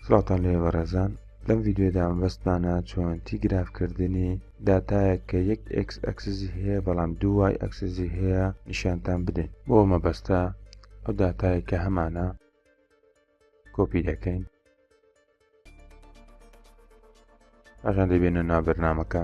سڵاوتان لێبێ بەڕێزان لەم ڤیدیۆدا مەبەستمانە چۆنتی گرافکردنی داتایەک کە یەک ئکس ئەکسزی هەیە بەڵام دوای ئەکسزی هەیە نیشانتان بدەین بۆ مەبەستە ئەو داتایە کە هەمانە کۆپی دەکەین ئەژان دەبێنە نابرنامەکە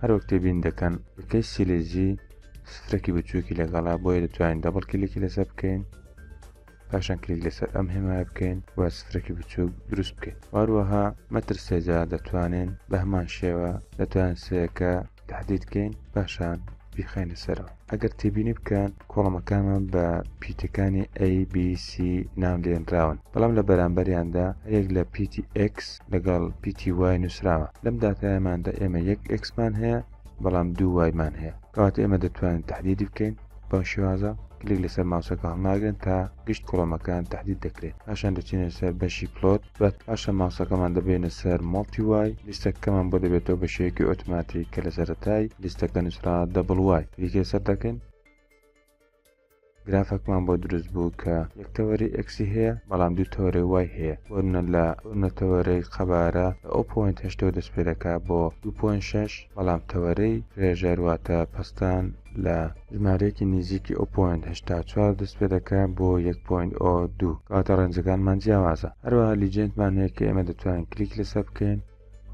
هەروەک تێبین دەکەن کەی سیلێزی سترەکی بچووکی لەگەڵا بۆیە دەتوانین دەبڵ کلیکی لەسەر بکەین پاشان کلیک لەسەر ئەم هێمای بکەین و سترەکی بچووک دروست بکەین واروەها مەتر سێجا دەتوانین بە هەمان شێوە دەتوان سەیەکە تهدید بکەین پاشان بیخینە سەرەوە ئەگەر تێبینی بکەن کۆڵمەکانمان بە پیتەکانی ABC ناو لێنراون بەڵام لە بەرامبەریاندا هەرێک لە پیتی X لەگەڵ پیتی وای نووسراوە لەم دااتایماندا ئێمە یەک ئەکسمان هەیە بەڵام دوو وایمان هەیە کەواتە ئێمە دەتوانین تهدیدی بکەین بەم شێوازە کلیک لەسەر ماوسەکە هەڵناگرن تا گشت کۆڵەمەکان تهدید دەکرێت پاشان دەچینە سەر بەشی پلۆت بە پاشە ماوسەکەمان دەبەینە سەر مۆڵتی وای لیستە کەمان بۆ دەبێتەوە بە شێوەیەکی ئۆتماتیک کە لە سەرەتای لیستەکە نووسرا دەبڵ وای کلیکێ سەر دەکەین گرافەکمان بۆ دروست بوو کە یەک تەوەری ئەکسی هەیە بەڵام دوو تەوەرەی وای هەیە وەرنە لە نەتەوەرەی قەبارە لە ئەو پوینت هشتەوە دەست پێ دەکات بۆ 2.6 بەڵام تەوەرەی فرێژەر واتە پەستان لە ژمارەیەکی نیزیکی ئۆ پۆینت هەشتا و چوار دەست پێ دەکا بۆ یەک پۆینت ئۆ دوو کەواتە ڕێنجەکانمان جیاوازە هەروەها لیجێندمان هەیە کە ئێمە دەتوانین کلیک لەسەر بکەین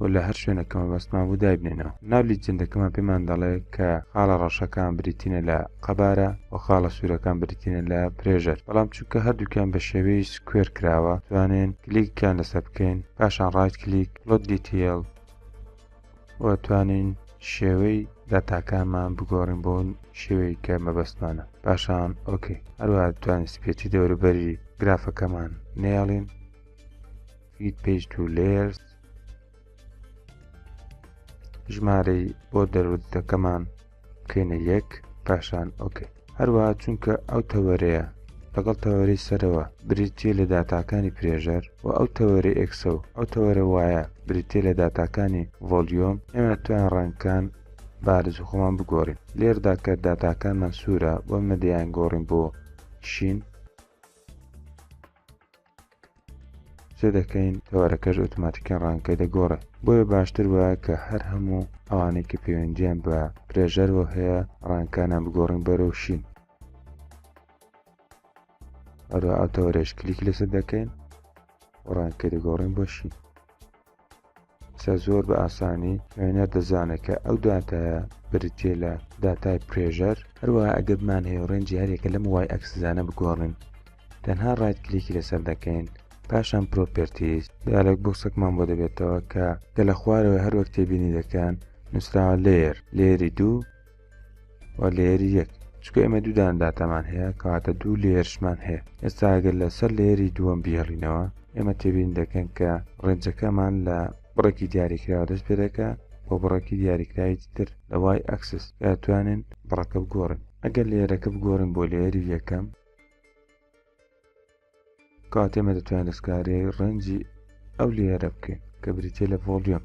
و لە هەر شوێنەکە مەبەستمان بوو دایبنێنەوە ناو لیجێندەکەمان پێمان دەڵێ کە خاڵە ڕەشەکان بریتینە لە قەبارە و خاڵە سوورەکان بریتینە لە پرێژەر بەڵام چونکە هەردووکیان بە شێوەی سکوێر کراوە توانێن کلیکیان لەسەر بکەین پاشان ڕایت کلیک لۆت دیتیل وەتوانین شێوەی داتاکانمان بگۆڕین بۆ شێوەی کە مەبەستمانە پاشان ئۆکەی هەروە توانین سپێتی دەوروبەری گرافەکەمان نێڵین فیت پێج تو لێرز ژمارەی بۆ دەرودەکەمان بکەینە یەک پاشان ئۆکەی هەروە چونکە ئەو تەوەرەیە لەگەڵ تەوەری سەرەوە بریتێ لە داتاکانی پرێژەر و ئەو تەوەرە ئێکسە و ئەو تەوەرە وایە بریتێ لە داتاکانی ڤۆلیۆم ئێمە تویان ڕەنگکان بارز خۆمان بگۆڕین لێردا کە داتاکانمان سوورە بۆ مەدەیان گۆڕین بۆ شین چ دەکەین تەوەرەکەش ئۆتۆماتیکیان ڕانکەی دەگۆڕێ بۆیە باشتر وایە کە هەر هەموو ئەوانەی کە پەیوەندیان بە پرێژەرەوە هەیە ڕانکانە بگۆڕین بەرەو شین ئەرو ئەو تەوەرەش کلیک لەسەر دەکەین ڕانکەی دەگۆڕین بۆ شین سە زۆر بە ئاسانی خوێنەر دەزانێت کە ئەو داتایە بریتیە لە داتای پرێژەر هەروە ئەگەبمان هەیە ڕێنجی هەرێکە لەم وای ئەکسزانە بگۆڕین تەنها ڕایت کلیکی لەسەر دەکەین پاشان پرۆپرتیز دیالێک بۆ سەکمان بۆ دەبێتەوە کە گە لە خوارەوە هەروەک تێبینی دەکەن نووسراوە لێر لێری دوو لێری یەک چکە ئێمە دوودان داتامان هەیە کەواتە دوو لێرشمان هەیە ئێستا ئەگەر لەسەر لێری دووەم بیهڵینەوە ئێمە تێبین دەکەن کە ڕێنجەکەمان لە بڕێکی دیاریکراوە دەست پێ دەکە بۆ بڕێکی دیاریکراوی تر لە وای ئەکسس توانن بڕەکە بگۆڕن ئەگەر لێرەکە بگۆڕن بۆ لێری یەکەم کاتێمە دەتوانین دەستکاری ڕەنجی ئەو لێرە بکەین کە بریتە لە ڤۆلیۆم